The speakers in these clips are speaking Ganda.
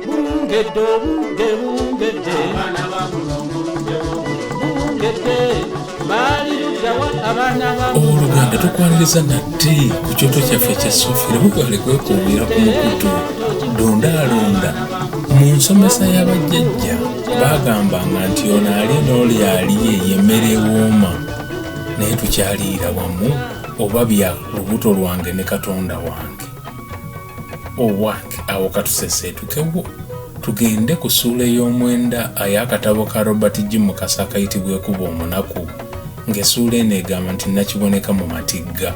bungedde obudde bungedde abaana ba mulongo budde bungedde baali luddawa abaana ba oluganda tukwaniriza nate ku kyoto kyaffe ekya sofira mugale kwekuumira ku mukutu dondaalonda mu nsomesa y'abajjajja baagambanga nti ono ali n'oli aliye yemmere ewooma naye tukyaliira wamu oba bya lubuto lwange ne katonda wange owak awo katuseseetukewo tugende ku suula ey'omwenda ay'akatabo ka robert g mukasa akayitibwa ekuba omunaku ng'esuula eno egamba nti nakiboneka mu matigga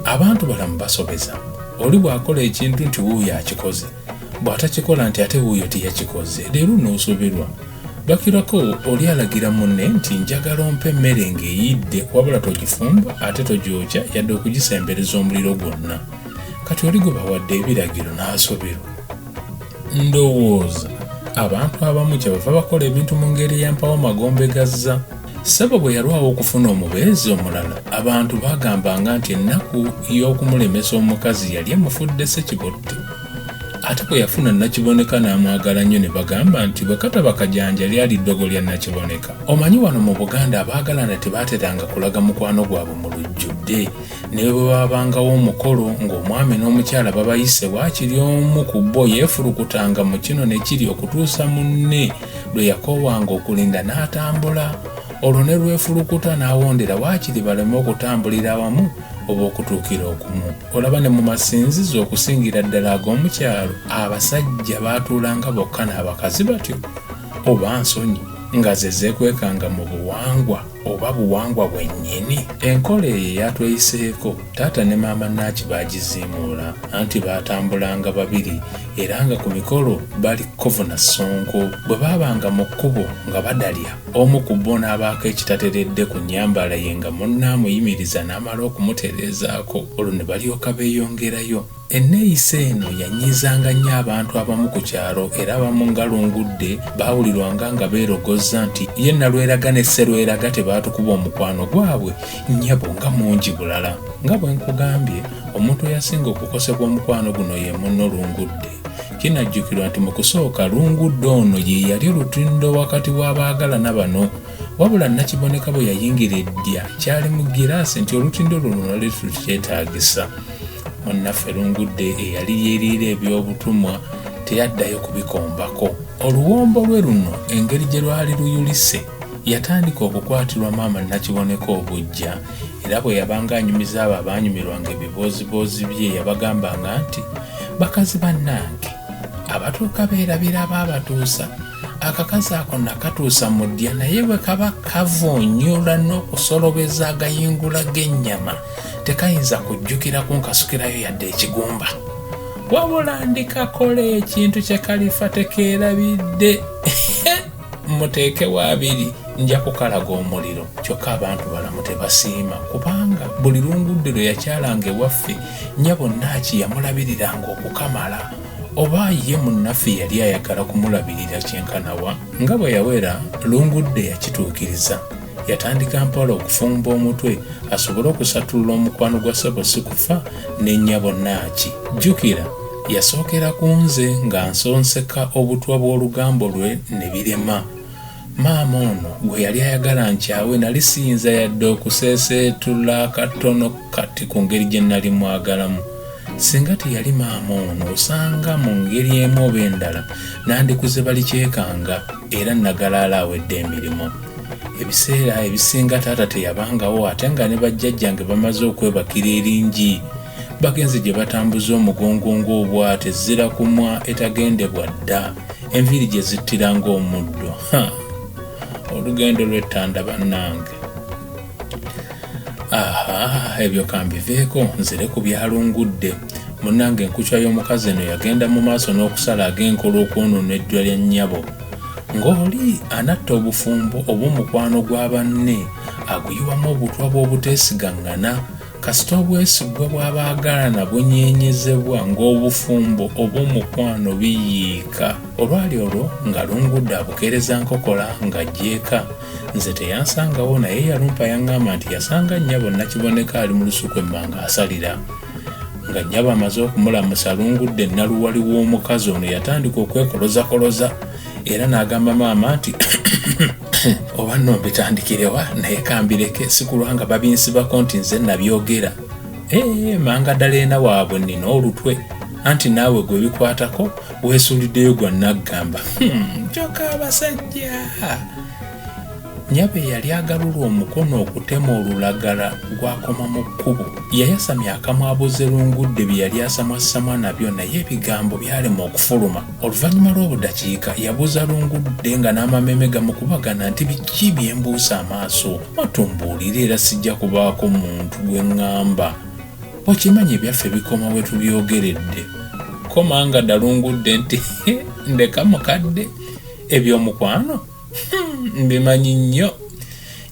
abantu balamu basobeza oli bw'akola ekintu nti wuuyo akikoze bw'atakikola nti ate wuuyo teyakikoze leero n'osoberwa bakirako oli alagira munne nti njagala ompa emmere ng'eyidde wabula togifumba ate togyokya yadde okugisembereza omuliro gwonna kati oli gwe bawadde ebiragiro n'asoberwa ndowooza abantu abamu kyebava bakola ebintu mu ngeri eyampawo magombe gazza Ssebo bwe yalwawo okufuna omubeezi omulala, abantu baagambanga nti ennaku y'okumulemesa omukazi yali emufudde ssekibotte. Ate bwe yafuna Nakiboneka n'amwagala nnyo ne bagamba nti bwe kataba kajanja lyali ddogo lya Nakiboneka. Omanyi wano mu Buganda abaagalana tebaateranga kulaga mukwano gwabwe mu lujjudde. ne bwe baabangawo omukolo ng'omwami n'omukyala babayise waakiri omu ku bo yeefulukutanga mu kino ne kiri okutuusa munne lwe yakoowanga okulinda n'atambula olwo ne lwefulukuta n'awondera waakiri baleme okutambulira awamu oba okutuukira okumu olaba ne mu masinzizo okusingira ddala ag'omu kyalo abasajja baatuulanga bokka n'abakazi batyo oba nsonyi nga ze zeekwekanga mu buwangwa oba buwangwa bwennyini enkola eyo eyatweyiseeko taata ne maama naaki baagiziimuula anti baatambulanga babiri era nga ku mikolo bali kovuna ssonko bwe baabanga mu kkubo nga badalya omu ku bo n'abaako ekitateredde ku nnyambala ye nga munne amuyimiriza n'amala okumutereezaako olwo ne balyoka beeyongerayo Enneeyisa eno yanyiizanga nnyo abantu abamu ku kyalo era abamu nga Lungudde baawulirwanga nga beerogozza nti ye Nalweraga ne Sserweraga tebaatukuba omukwano gwabwe nnyabo nga mungi bulala. Nga bwe nkugambye, omuntu eyasinga okukosebwa omukwano guno ye munno Lungudde. Kinajjukirwa nti mu kusooka Lungudde ono ye yali olutindo wakati w'abaagalana bano wabula Nakiboneka bwe yayingira eddya kyali mu ggiraasi nti olutindo luno lwali terukyetaagisa. munnaffe lungudde eyali yeeriira ebyobutumwa teyaddayo kubikombako oluwombo lwe luno engeri gye lwali luyulise yatandika okukwatirwa maama nakiboneka obujja era bwe yabanga anyumiza abo abaanyumirwanga ebibooziboozi bye yabagambanga nti bakazi bannange abatuuka beerabira baabatuusa akakazi ako nakatuusa mu ddya naye bwe kaba kavunyula n'okusolobeza agayingula g'ennyama tekayinza kujjukira kunkasukirayo yadde ekigumba wabula ndikakola ekintu kye kalifa tekeerabidde muteekewo abiri nja kukalaga omuliro kyokka abantu balamu tebasiima kubanga buli lungudde lwe yakyalanga ewaffe nya bonna akiyamulabiriranga okukamala oba ye munnaffe yali ayagala kumulabirira kyenkanawa nga bwe yawera lungudde yakituukiriza yatandika mpola okufumba omutwe asobole okusattulula omukwano gwa ssebo si kufa n'ennyabo naaki jjukira yasookera ku nze nga nsonseka obutwa bw'olugambo lwe ne birema Maama ono gwe yali ayagala nkyawe nali siyinza yadde okuseeseetula katono kati ku ngeri gye nali mwagalamu. Singa teyali maama ono osanga mu ngeri emu oba endala nandikuze balikyekanga era nagalaala awedde emirimu. Ebiseera ebisinga taata teyabangawo ate nga ne bajjajjange bamaze okwebakira eringi bagenze gye batambuza omugongo ng'obwate zira kumwa etagendebwa dda. enviiri gye zittira ng'omuddo olugendo lw'ettanda bannange aha ebyo kambiveeko nzire ku byalungudde munnange enkucwa y'omukazi eno yagenda mu maaso n'okusala ag'enkola okwonoona eddwa lya nnyabo ng'oli anatta obufumbo oba omukwano gwa banne aguyiwamu obutwa bw'obuteesigaŋŋana Kasita obwesigwa bw'abaagalana bunyeenyezebwa ng'obufumbo oba omukwano biyiika. Olwali olwo nga Lungudde abukeereza nkokola ng'ajja eka. Nze teyansangawo naye yalumpa yang'amba nti yasanga nnyabo Nakiboneka ali mu lusuku emmanga asalira. Nga nnyabo amaze okumulamusa Lungudde nnaluwali w'omukazi ono yatandika okwekolozakoloza. era n'agamba maama nti oba nno mbitandikirewa naye kambireke sikulwanga babinsibako nti nze nabyogera ee eh, manga ddala ena waabwe nina olutwe anti naawe gwe bikwatako weesuuliddeyo gwa naggamba hmm, kyoka abasajja Nnyabo eyali agalula omukono okutema olulagala gw'akoma mu kkubo, yayasamya akamwa abuuze Lungudde bye yali asamwassamwa nabyo naye ebigambo byalema okufuluma. Oluvannyuma lw'obudakiika, yabuuza Lungudde nga n'amameeme gamukubagana nti, Biki bye mbuusa amaaso? Mwattu mbuulira era sijja kubaako muntu gwe ŋŋamba. Okimanyi ebyaffe bikoma we tubyogeredde. Ko Mangada Lungudde nti, Hee, ndeka mukadde! Eby'omukwano? hmm, mbimanyi nnyo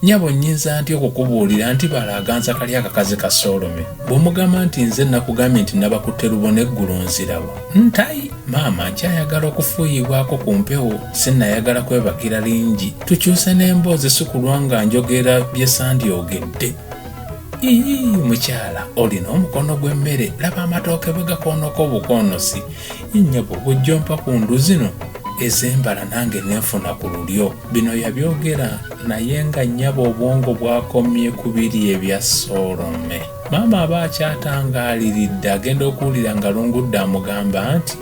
nyabo nyinza nti okukubuulira nti bala aganza kali akakazi ka solome bw'omugamba nti nze nakugambye nti nabakutte lubona eggulu nzirawo ntayi maama nkyayagala okufuuyibwako ku mpewo sinayagala kwebakira lingi tukyuse n'emboozi sikulwa nga njogera bye sandyogedde ii mukyala olina omukono gw'emmere laba amatooke bwe gakoonoko obukoonosi Nnyabo bw'ojjompa ku ndu zino ez'embala nange nenfuna ku lulyo. Bino yabyogera naye nga nnyabo obwongo bwakomye ku biri ebya Soolome. Maama aba akyatangaaliridde agenda okuwulira nga Lungudda amugamba nti,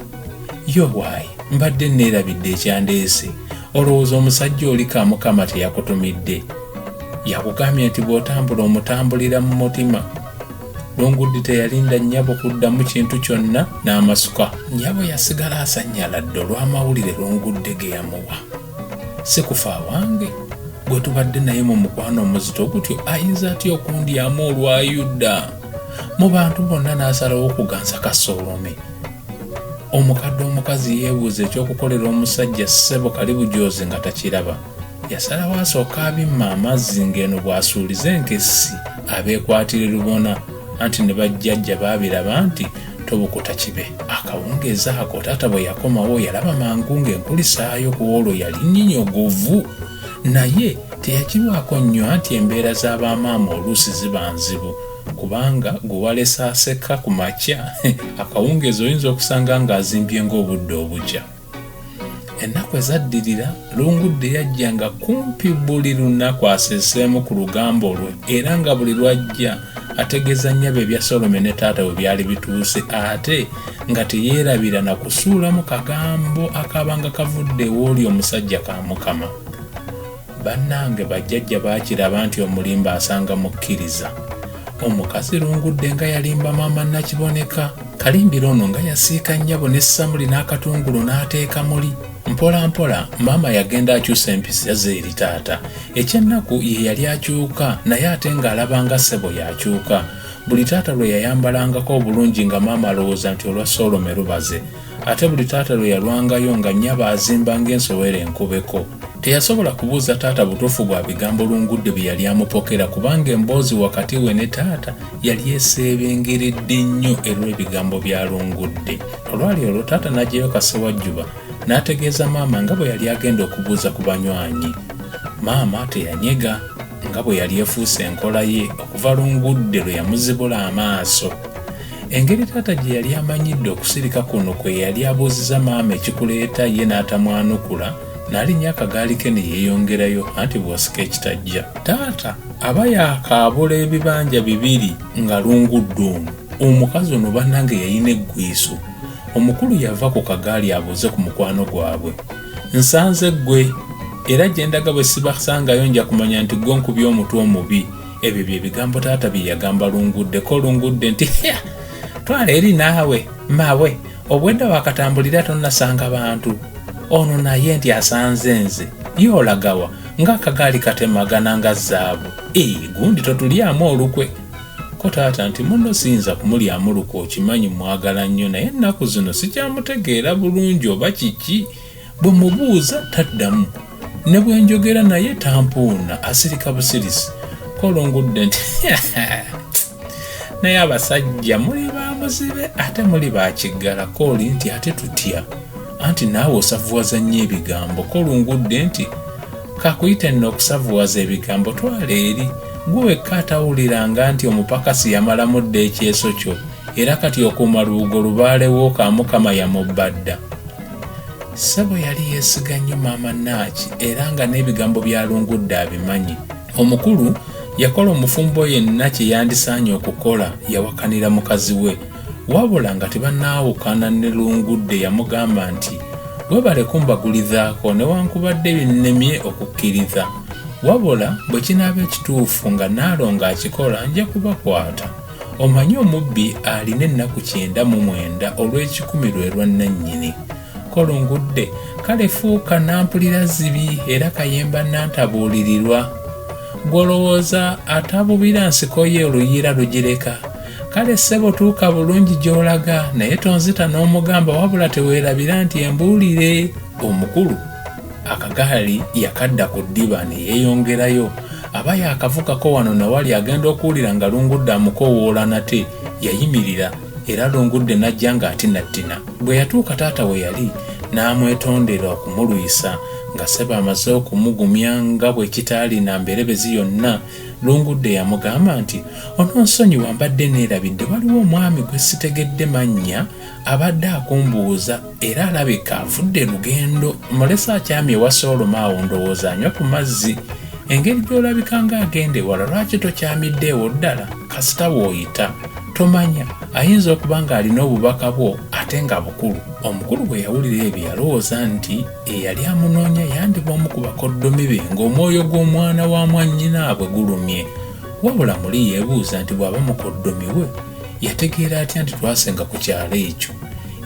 Ye owaaye mbadde nneerabidde ekyandeese. Olowooza omusajja oli ka Mukama teyakutumidde? Yakugambye nti bw'otambula omutambulira mu mutima. Lunguddi teyalinda nnyabo kuddamu kintu kyonna n'amasuka. Nnyabo yasigala asanyaladde olw'amawulire Lungudde ge yamuwa. Si kufa awange, gwe tubadde naye mu mukwano omuzito gutyo ayinza atya okundyamu olwa Yuda? Mu bantu bonna n'asalawo okuganza Kasoolome. Omukadde omukazi yeebuuza eky'okukolera omusajja ssebo kalibujoozi nga takiraba. yasalawo asooke abimma amazzi ng'eno bw'asuuliza enkessi abeekwatire lubona anti ne bajjajja baabiraba nti tobukuta kibe akawungeezi ako taata bwe yakomawo yalaba mangu ng'enkulisaayo ku olwo yali nyinyogovu naye teyakirwako nnyo anti embeera z'abamaama oluusi ziba nzibu kubanga gwe walesa aseka ku makya akawungeezi oyinza okusanga ng'azimbye ng'obudde obukya ennaku ezaddirira lungudde yajja nga kumpi buli lunaku aseseemu ku lugambo lwe era nga buli lwajja ategeeza nnyabo ebya solome ne taata we byali bituuse ate nga teyeerabira na kusuulamu kagambo akaabanga kavudde ewooli omusajja ka mukama Banange bajjajja bakiraba nti omulimba asanga mukkiriza. Omukazi lungudde nga yalimba maama Nakiboneka. Kalimbira ono nga yasiika nnyabo ne samuli n'akatungulu n'ateeka muli. Mpola mpola maama yagenda akyusa empisa ze eri taata. Ekyennaku ye yali akyuka naye ate ng'alaba nga ssebo y'akyuka. Buli taata lwe yayambalangako obulungi nga maama alowooza nti olwa Soolome lubaze. ate buli taata lwe yalwangayo nga nnyabo azimba ng'ensowera enkubeko teyasobola kubuuza taata butuufu bwa bigambo lungudde bye yali amupokera kubanga emboozi wakati we ne taata yali eseebengeredde nnyo erw'ebigambo bya lungudde olwali olwo taata n'agyeyo kasewajjuba n'ategeeza maama nga bwe yali agenda okubuuza ku banywanyi maama teyanyega nga bwe yali efuuse enkola ye okuva lungudde lwe yamuzibula amaaso Engeri taata gye yali amanyidde okusirika kuno kwe yali abuuziza maama ekikuleeta ye n'atamwanukula n'alinnya akagaali ke ne yeeyongerayo anti bw'osika ekitajja taata aba yaakaabula ebibanja bibiri nga lungudde ono omukazi ono bannange yalina eggwiiso omukulu yava ku kagaali abuuze ku mukwano gwabwe nsanze ggwe era gye ndaga bwe sibasangayo nja kumanya nti ggwe nkubya omutwe omubi ebyo bye bigambo taata bye yagamba lunguddeko lungudde nti hya twala eri naawe mawe obwedda wakatambulira tonnasanga bantu ono naye nti asanze nze ye olagawa ng'akagaali katemagana nga zaabu ee gundi totulyamu olukwe ko taata nti muno siyinza kumulyamu lukwe okimanyi mwagala nnyo naye ennaku zino sikyamutegeera bulungi oba kiki Bwe mmubuuza taddamu, ne bwe njogera naye tampoona, asirika busirisi. Kolo ngudde nti naye abasajja muli ba muzibe ate muli ba kiggala. Koli nti ate tutya anti naawe osavuwaza nnyo ebigambo. Kolo ngudde nti kakuyite nno okusavuwaza ebigambo twala eri gwe wekka atawuliranga nti omupakasi yamalamu dda ekyeso kyo era kati okuuma lubugo lubaalewo ka mukama yamubba dda. Ssebo yali yeesiga nnyo maama Naaki era nga n'ebigambo by'alungudde abimanyi. Omukulu yakola omufumbo yenna kye yandisaanye okukola yawakanira mukazi we. Wabula nga tebanaawukana ne Lungudde yamugamba nti, Webale kumbagulizaako newankubadde binnemye okukkiriza. Wabula bwe kinaaba ekituufu nga Nnaalongo akikola nja kubakwata. Omanyi omubbi alina ennaku kyenda mu mwenda olw'ekikumi lwe lwa nnannyini. Kolungudde, kale fuuka nampulira zibi era kayemba nnantabuulirirwa. Ggwe olowooza atabubira nsiko ye oluyiira lugireka? Kale ssebo tuuka bulungi gy'olaga naye tonzita n'omugamba wabula teweerabira nti embuulire omukulu. akagaali yakadda ku ddiba ne yeeyongerayo aba yaakavukako wano na wali agenda okuwulira nga lungudde amukoowoola nate yayimirira era lungudde n'ajja ng'atinattina bwe yatuuka taata we yali n'amwetondera okumulwisa nga seba amaze okumugumya nga bwe kitaalina mberebezi yonna lungudde yamugamba nti ononsonyiwa mbadde neerabidde waliwo omwami gwe sitegedde mannya abadde akumbuuza era alabika avudde lugendo mulesa akyami ewa sooloma awo ndowooza anywa ku mazzi engeri gy'olabika ng'agenda ewala lwaki tokyamidde ewo ddala kasita bw'oyita tomanya ayinza okuba ng'alina obubaka bwo ate nga bukulu omukulu bwe yawulira ebyo yalowooza nti eyali amunoonya yandiba omu ku bakoddomi be ng'omwoyo gw'omwana wa mwannyinaabwe gulumye wabula muli yeebuuza nti bw'aba mukoddomi we Yategeera atya nti twasenga ku kyalo ekyo?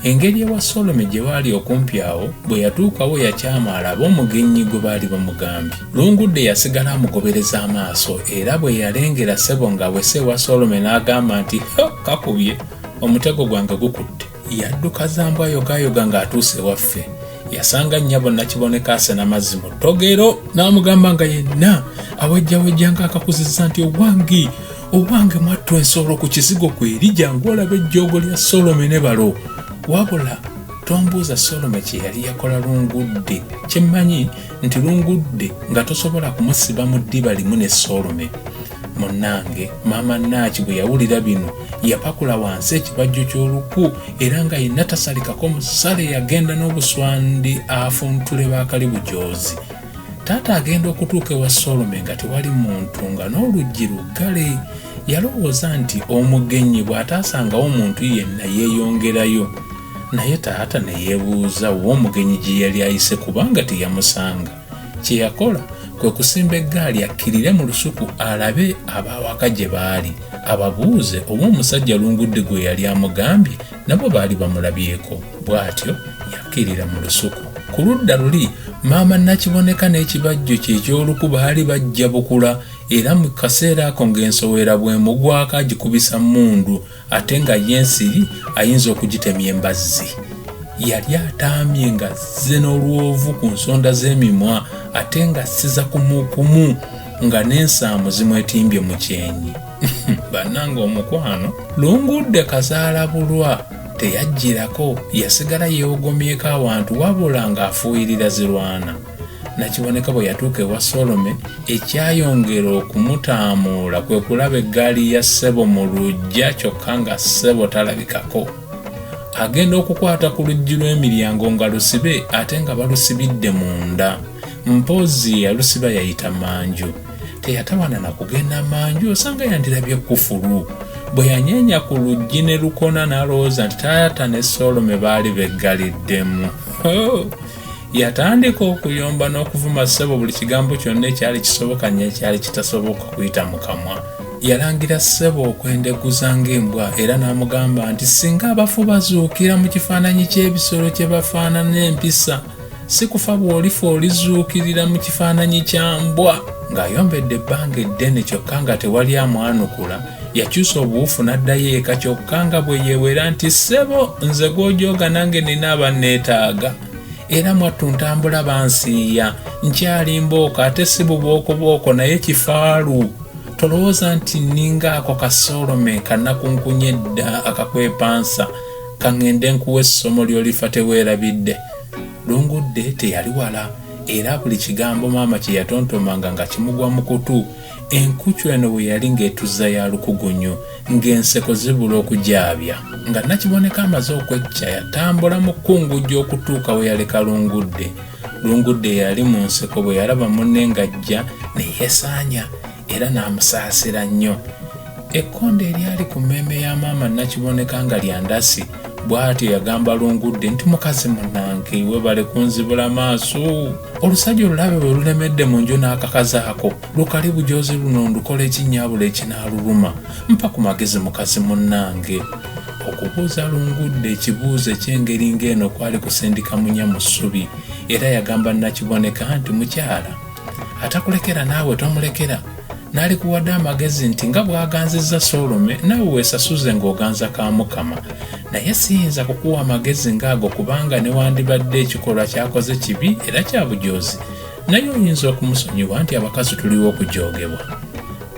Engeri ewa Solome gye baali okumpi awo, bwe yatuukawo yakyama alabe omugenyi gwe baali bamugambye. Lungudde yasigala amugobereza amaaso era bwe yalengera ssebo ng'awese ewa Solome n'agamba nti, Ho, kakubye! Omutego gwange gukutte. yadduka za mbwa yogayoga ng'atuuse ewaffe yasanga nnyabo nakiboneka asena mazzi mu ttogero n'amugamba nga yenna awejjawejja ng'akakuzizza nti owange owange mwattu ensolo ku kizigo kweri jangu olaba ejjoogo lya solome ne balo wabula tombuuza solome kye yali yakola lungudde kyemmanyi nti lungudde nga tosobola kumusiba mu ddiba limu ne solome Munnange maama Naaki bwe yawulira bino yapakula wansi ekibajjo ky'oluku era nga yenna tasalikako musale yagenda n'obuswandi afuntule bakali bujoozi. Taata agenda okutuuka ewa Solome nga tewali muntu nga n'oluggi luggale. Yalowooza nti omugenyi bw'ataasangawo muntu yenna yeeyongerayo. Naye taata ne yeebuuza w'omugenyi gye yali ayise kubanga teyamusanga. kye yakola kwe kusimba eggaali akkirire mu lusuku alabe abaawaka gye baali ababuuze oba omusajja lungudde gwe yali amugambye nabo baali bamulabyeko bw'atyo yakkirira mu lusuku ku ludda luli maama nakiboneka n'ekibajjo kye eky'oluku baali bajja bukula era mu kaseera ako ng'ensowera bw'emugwako agikubisa mmundu ate nga ye ensiri ayinza okugitemya embazzi yali ataamye ng'azze n'olwovu ku nsonda z'emimwa ate nga siza kumukumu nga n'ensaamu zimwetimbye mu kyenyi bannanga omukwano lungudde kazaala bulwa teyajjirako yasigala yeewogomyeko awantu wabula ng'afuuyirira zirwana Nakiboneka bwe yatuuka ewa Solome, ekyayongera okumutaamuula kwe kulaba eggaali ya ssebo mu luggya kyokka nga ssebo talabikako. Agenda okukwata ku luggi lw'emiryango nga lusibe ate nga balusibidde munda. Mpozzi yalusiba yayita manju. Teyatawana na kugenda manju osanga yandirabye kufulu. Bwe yanyeenya ku luggi ne lukona n'alowooza nti taata ne Solome baali beggaliddemu. Oh! yatandika okuyomba n'okuvuma ssebo buli kigambo kyonna ekyali kisoboka n'ekyali kitasoboka kuyita mu kamwa yalangira ssebo okwendeguza ng'embwa era n'amugamba nti singa abafu bazuukira mu kifaananyi ky'ebisolo kye bafaanana empisa si kufa bw'olifa olizuukirira mu kifaananyi kya mbwa ng'ayombedde ebbanga eddene kyokka nga tewali amwanukula yakyusa obuwufu n'addayo eka kyokka nga bwe yeewera nti ssebo nze gw'ojooga nange nina abanneetaaga era mwattu ntambula bansiiya nkyali mbooko ate si bubookobwoko naye kifaalu tolowooza nti nninga ako kasoolome kanakunkunya edda akakwepansa kaŋŋende nkuwa essomo ly'olifa teweerabidde lungudde teyali wala era buli kigambo maama kye yatontomanga nga kimugwa mu kutu Enkucu eno bwe yali ng'etuzza ya lukugunyu, ng'enseko zibula okugyabya, nga Nakiboneka amaze okwecca yatambula mu kkungujjo okutuuka we yaleka Lungudde. Lungudde yali mu nseko bwe yalaba munne ng'ajja ne yeesaanya era n'amusaasira nnyo. Ekkonde eryali ku mmeeme ya maama Nakiboneka nga lya ndasi. bw'atyo yagamba lungudde nti mukazi munange webale kunzibula maaso olusajja olulabe bwe lulemedde mu nju n'akakazi ako lukali bujoozi luno ndukola ekinnyabula ekinaaluluma mpa ku magezi mukazi munange okubuuza lungudde ekibuuzo eky'engeri ng'eno kwali kusindika munya mu ssubi era yagamba nakiboneka nti mukyala atakulekera naawe tomulekera n'alikuwadde amagezi nti nga bw'aganzizza soolome naawe weesasuze ng'oganza ka mukama naye siyinza kukuwa amagezi ng'ago kubanga newandibadde ekikolwa kyakoze kibi era kya bujoozi naye oyinza okumusonyiwa nti abakazi tuliwo okujoogebwa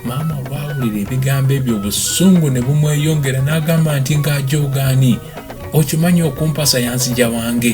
maama olwawulira ebigambo ebyo obusungu ne bumweyongera n'agamba nti ng'ajoogaani okimanyi okumpasa yanzija wange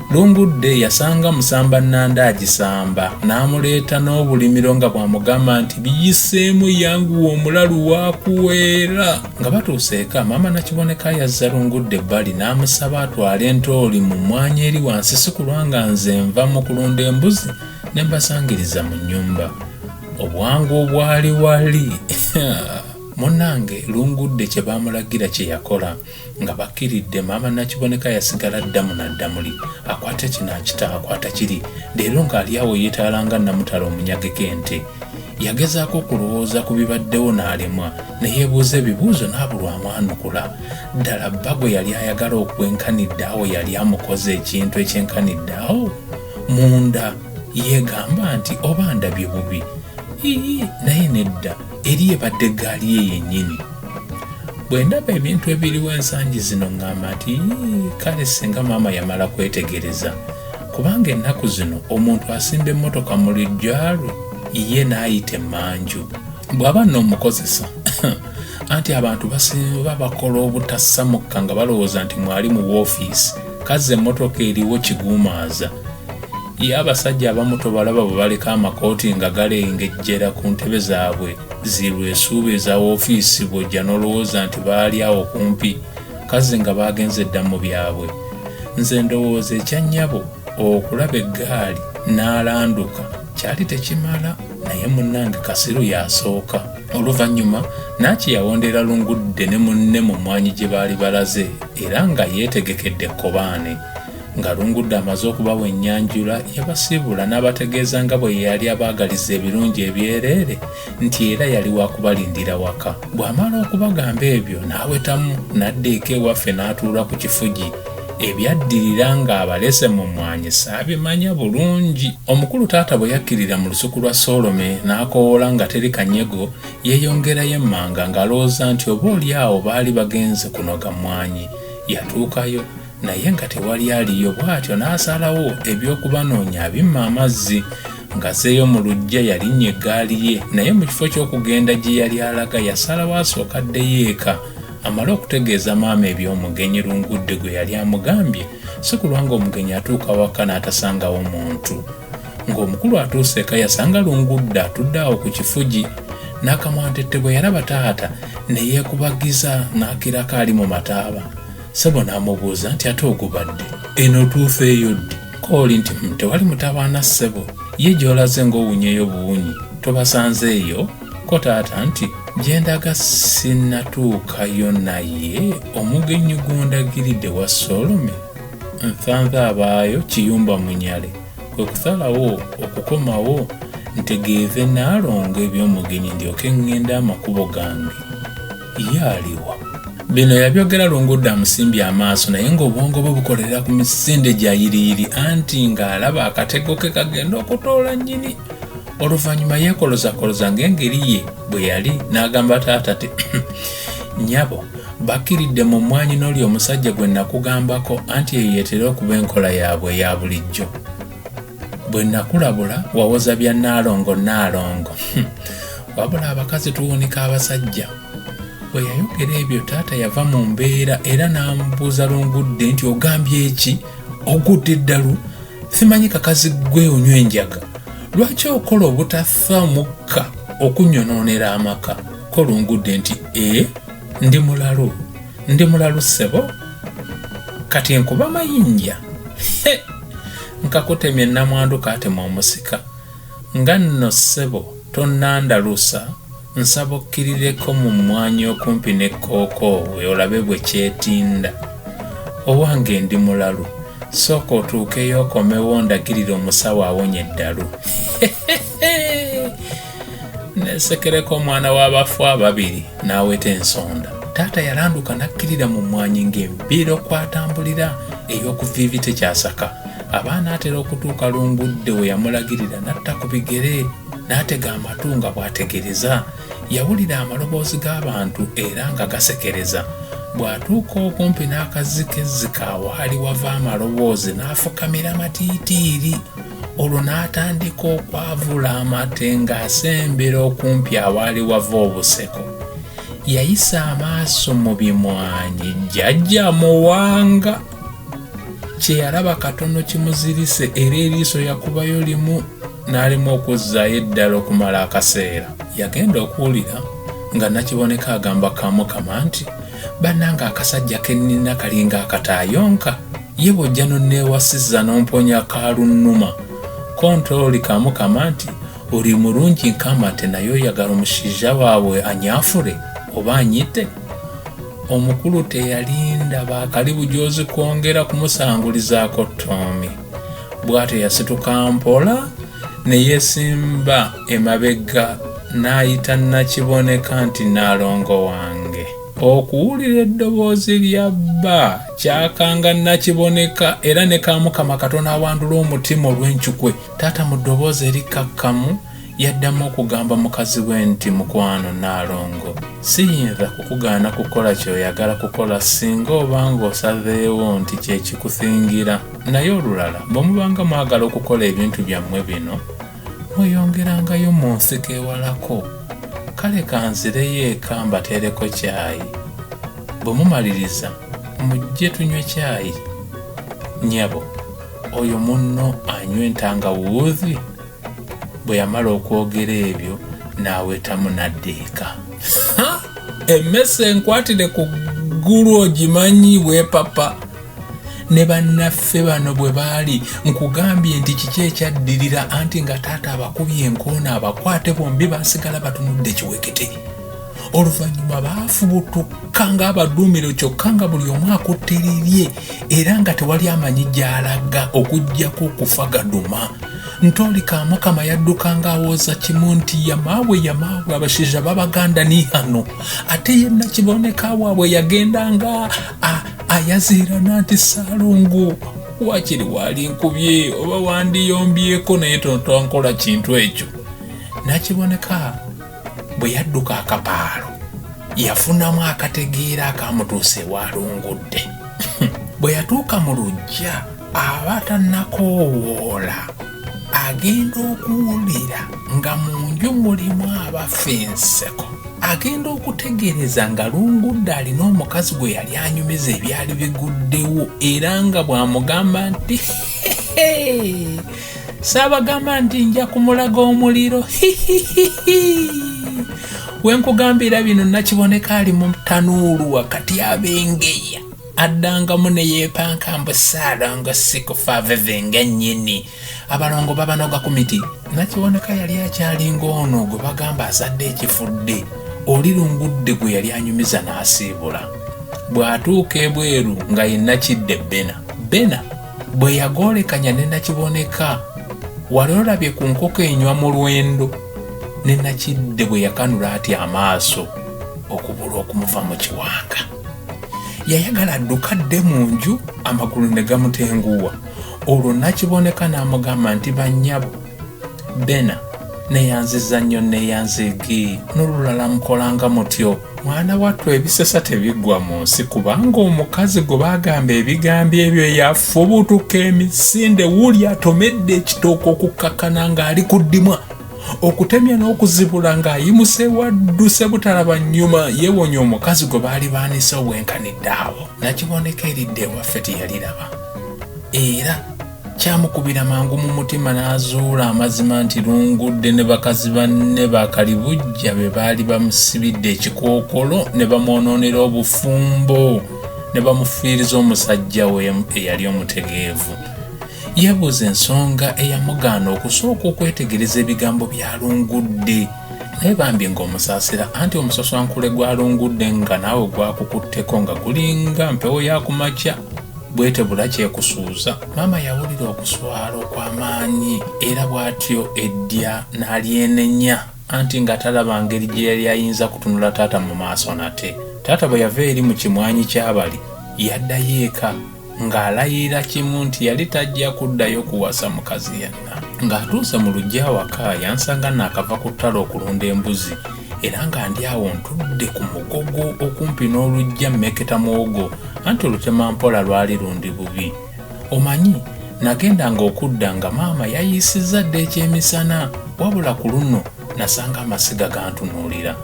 Lungudde yasanga Musamba Nanda agisamba n'amuleeta n'obulimiro nga bw'amugamba nti biyiseemu yanguwa omulalu waakuweera. Nga batuuse eka, maama Nakiboneka yazza Lungudde ebbali n'amusaba atwale entooli mu mmwanyi eri wansi sikulwa nga nze nva mu kulunda embuzi ne mbasangiriza mu nnyumba. Obwangu obwali wali! Munnange Lungudde kye baamulagira kye yakola. nga bakkiridde maama nakiboneka yasigala ddamu naddamuli akwata kino akita akwata kiri leero ng'ali awo yeetaala nga namutala omunyageko ente yagezaako okulowooza ku bibaddewo n'alemwa ne yeebuuza ebibuuzo n'abulwamu anukula ddala bba gwe yali ayagala okwenkanidde awo yali amukoze ekintu ekyenkanidde awo munda yeegamba nti oba ndabye bubi ii naye nedda eri ebadde eggaali ye yennyini bwe ndaba ebintu ebiriwo ensangi zino ŋŋamba nti kale singa maama yamala kwetegereza kubanga ennaku zino omuntu asimba emmotoka mu lijjalwe ye n'ayita emmanju bw'aba n'omukozesa anti abantu basinba bakola obutassamukka nga balowooza nti mwali mu woofiisi kazze emmotoka eriwo kiguumaaza Ye abasajja abamu tobalaba bwe baleka amakooti nga galengejjera ku ntebe zaabwe zi lwesuuba eza woofiisi bw'ojja n'olowooza nti baali awo kumpi kazi nga baagenze dda mu byabwe. Nze ndowooza ekya nnyabo okulaba eggaali n'alanduka kyali tekimala naye munnange Kasiru y'asooka. Oluvannyuma Naaki yawondera Lungudde ne munne mu mmwanyi gye baali balaze era nga yeetegekedde ekkobaane. Nga Lungudda amaze okubawa ennyanjula, yabasiibula n'abategeeza nga bwe yali abaagaliza ebirungi ebyereere nti era yali wa kubalindira waka. Bw'amala okubagamba ebyo n'awetamu n'adda eka ewaffe n'atuula ku kifugi. Ebyaddirira ng'abalese mu mmwanyi saabimanya bulungi. Omukulu taata bwe yakkirira mu lusuku lwa Soolome n'akowoola nga teri kanyego, yeeyongerayo emmanga ng'alowooza nti oba oli awo baali bagenze kunoga mmwanyi. Yatuukayo naye nga tewali aliyo bw'atyo n'asalawo eby'okubanoonya abimma amazzi ng'azzeeyo mu luggya yalinnya eggaali ye naye mu kifo ky'okugenda gye yali alaga yasalawo asooka addeyo eka amale okutegeeza maama eby'omugenyi lungudde gwe yali amugambye si kulwa ng'omugenyi atuuka waka n'atasangawo muntu ng'omukulu atuuse eka yasanga lungudde atudde awo ku kifugi n'akamwantette bwe yalaba taata ne yeekubagiza n'akirako ali mu mataaba Sebo n'amubuuza nti ate ogubadde eno otuufa eyo ddi kooli nti hmm, tewali mutabaana ssebo ye gy'olaze ng'owunyeyo buwunyi tobasanze eyo ko taata nti gyendaga sinnatuukayo naye omugenyi gundagiridde wa solome nthanze abaayo kiyumba munyale kwe kusalawo okukomawo ntegeeze naalongo eby'omugenyi ndyoke ŋŋenda amakubo gange ye aliwa bino yabyogera lungude amusimbye amaaso naye ng'obwongo bwe bukolerera ku misinde gya yiriyiri anti ng'alaba akatego ke kagenda okutoola nnyini oluvannyuma yeekolozakoloza ng'engeri ye bwe yali n'agamba taata ti nyabo bakkiridde mu mmwanyi n'oli omusajja gwe nakugambako anti eyo yetera okuba enkola yaabwe eya bulijjo bwe nakulabula wawoza bya naalongo naalongo hmm. wabula abakazi tuwunika abasajja bwe yayogera ebyo taata yava mu mbeera era n'amubuuza lungudde nti ogambye eki ogudde eddalu simanyi kakazi gwe onywa enjaga lwaki okola obutafa mukka okunyonoonera amaka ko lungudde nti e ndi mulalu ndi mulalu ssebo kati enkuba mayinja nkakutemye namwandu katema omusika nga nno ssebo tonnandalusa nsaba okkirireko mu mmwanyi okumpi ne kookoowe olabe bwe kyetinda owange ndi mulalu sooka otuukeyo okomewo ndagirira omusawo awonye eddalu nesekereko omwana w'abafu ababiri n'aweta ensonda taata yalanduka n'akkirira mu mmwanyi ng'empiira okwatambulira ey'okuviivi tekyasaka abaana atera okutuuka lungudde we yamulagirira n'atta ku bigere n'atega amatu nga bw'ategereza yawulira amaloboozi g'abantu era nga gasekereza bw'atuuka okumpi n'akazzi kezzika waali wava amaloboozi n'afukamira matiitiiri olwo n'atandika okwavula amate ng'asembera okumpi awaali wava obuseko yayisa amaaso mu bimwanyi jjajja muwanga kye yalaba katono kimuzirise era eriiso yakubayo limu n'alimu okuzzaayo eddala okumala akaseera yagenda okuwulira nga nakiboneka agamba kamukama nti bannanga akasajja kennina kalinga akataayonka ye bw'ojja n'onneewasiza n'omponya kaalunnuma konta oli kamukama nti oli mulungi nkamate naye oyagala omushaija waabwe anyaafure oba anyite omukulu teyalinda baakali bujoozi kwongera kumusangulizaako toomi bw'atyo yasituka mpola ne yeesimba emabega n'ayita nakiboneka nti naalongo wange Okuwulira eddoboozi lya bba kyakanga Nakiboneka era ne Kamukama katono awandule omutima olw'encukwe, taata mu ddoboozi erikkakkamu yaddamu okugamba mukazi we nti, Mukwano Nnaalongo, siyinza kukugaana kukola ky'oyagala kukola ssinga oba ng'osazeewo nti kye kikuthingira. Naye olulala bwe mubanga mwagala okukola ebintu byammwe bino, mweyongerangayo mu nsiko ewalako kale kanzireyo eka mbateereko kyayi bwe mumaliriza mujje tunywe kyayi nyabo oyo munno anywa entangawuuzi bwe yamala okwogera ebyo n'awetamu n'adda eka emmese enkwatire ku ggulu ogimanyi bwepapa ne bannaffe bano bwe baali nkugambye nti kiki ekyaddirira anti nga taata abakubye enkoona abakwate bombi basigala batunudde kiwekete oluvannyuma baafubutuka ng'abaduumiro kyokka nga buli omu akutte lirye era nga tewali amanyi gy'alaga okuggyako okufa gaduma ntoli kamukama yadduka ng'awooza kimu nti yamaawe yamaawe abashaija babaganda ni hano ate ye nakiboneka waabwe yagenda nga ah, ayaziirana nti saalongo wakiri waali nkubye oba wandiyombyeko naye tontonkola kintu ekyo nakiboneka bwe yadduka akapaalo yafunamu akategeera akamutuusa ewalungudde bwe yatuuka mu lujja aba tanakoowoola agenda okuwulira nga mu nju mulimu abafa enseko agenda okutegeereza nga lungudde alina omukazi gwe yali anyumiza ebyali biguddewo era nga bw'amugamba nti saabagamba nti nja kumulaga omuliro wenkugambira bino nakiboneka ali mu tanuulu wakati abengeya addangamu ne yeepanka mbu saalongo sikufa veve nga nnyini abalongo babanoga ku miti nakiwoneka yali akyalinga ono gwe bagamba azadde ekifudde oli lungudde gwe yali anyumiza n'asiibula bw'atuuka ebweru nga yenna kidde bena bena bwe yagoolekanya ne nakiboneka wali olabye ku nkoko enywa mu lwendo ne nakidde bwe yakanula ati amaaso okubula okumuva mu kiwanga yayagala adduka dde mu nju amagulu ne gamutenguwa olwo nakiboneka n'amugamba nti bannyabo bena neyanziza nnyo neyanzigi n'olulala mukolanga mutyo mwana wattu ebisesa tebiggwa mu nsi kubanga omukazi gwe bagamba ebigambo ebyo yafubutuka emisinde wuli atomedde ekitooka okukkakkana ng'ali ku ddimwa okutemya n'okuzibula ng'ayimuse wadduse butalaba nnyuma yeewonye omukazi gwe baali baanise obwenkanidde awo nakiboneka eridde ewaffe teyariraba era kyamukubira mangu mu mutima n'azuula amazima nti lungudde ne bakazi banne bakalibujja be baali bamusibidde ekikookolo ne bamwonoonera obufumbo ne bamufiiriza omusajja we eyali omutegeevu Yabuuza ensonga eyamugaana okusooka okwetegereza ebigambo bya Lungudde naye bambi ng'omusaasira anti omusoswankule gwa Lungudde nga naawe gwakukutteko nga gulinga mpewo ya ku makya bwetebula kyekusuuza maama yawulira okuswala okw'amaanyi era bw'atyo eddya n'alyenenya anti nga talaba ngeri gye yali ayinza kutunula taata mu maaso nate taata bwe yava eri mu kimwanyi ky'abali yaddayo eka ng'alayirira kimu nti yali tajja kuddayo kuwasa mukazi yenna ng'atuuse mu lujja awaka yansanga naakava ku ttale okulunda embuzi era nga ndi awo ntudde ku mugogo okumpi n'olujja mmeketa muwogo anti olutema mpola lwali lundi bubi omanyi nagenda ng'okudda nga maama yayiisizza dda ekyemisana wabula ku luno nasanga amasiga gantunuulira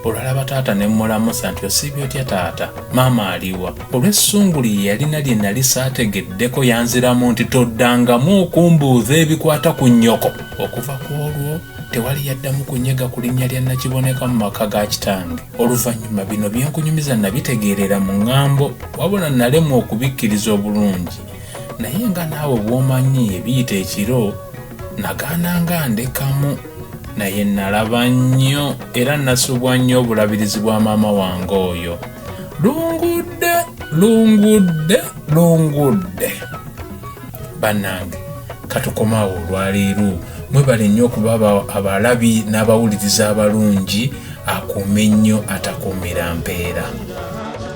olwalaba taata ne mmulamusa nti osiibye otya taata maama aliwa olw'essungu lye yalina lye nali saategeddeko yanziramu nti toddangamu okumbuuza ebikwata ku nnyoko okuva ku olwo tewali yaddamu kunyega ku linnya lya nakiboneka mu maka ga kitange oluvannyuma bino byenkunyumiza nabitegeerera mu ŋŋambo wabula nalemwa okubikkiriza obulungi naye nga naawe bw'omanyi ebiyita ekiro nagana nga ndekamu naye nalaba nnyo era nasubwa nnyo obulabirizi bwa maama wange oyo lungudde lungudde lungudde banange katukomaawo olwaleero mwebale nnyo okuba abalabi n'abawuliriza abalungi akuume nnyo atakuumira mpeera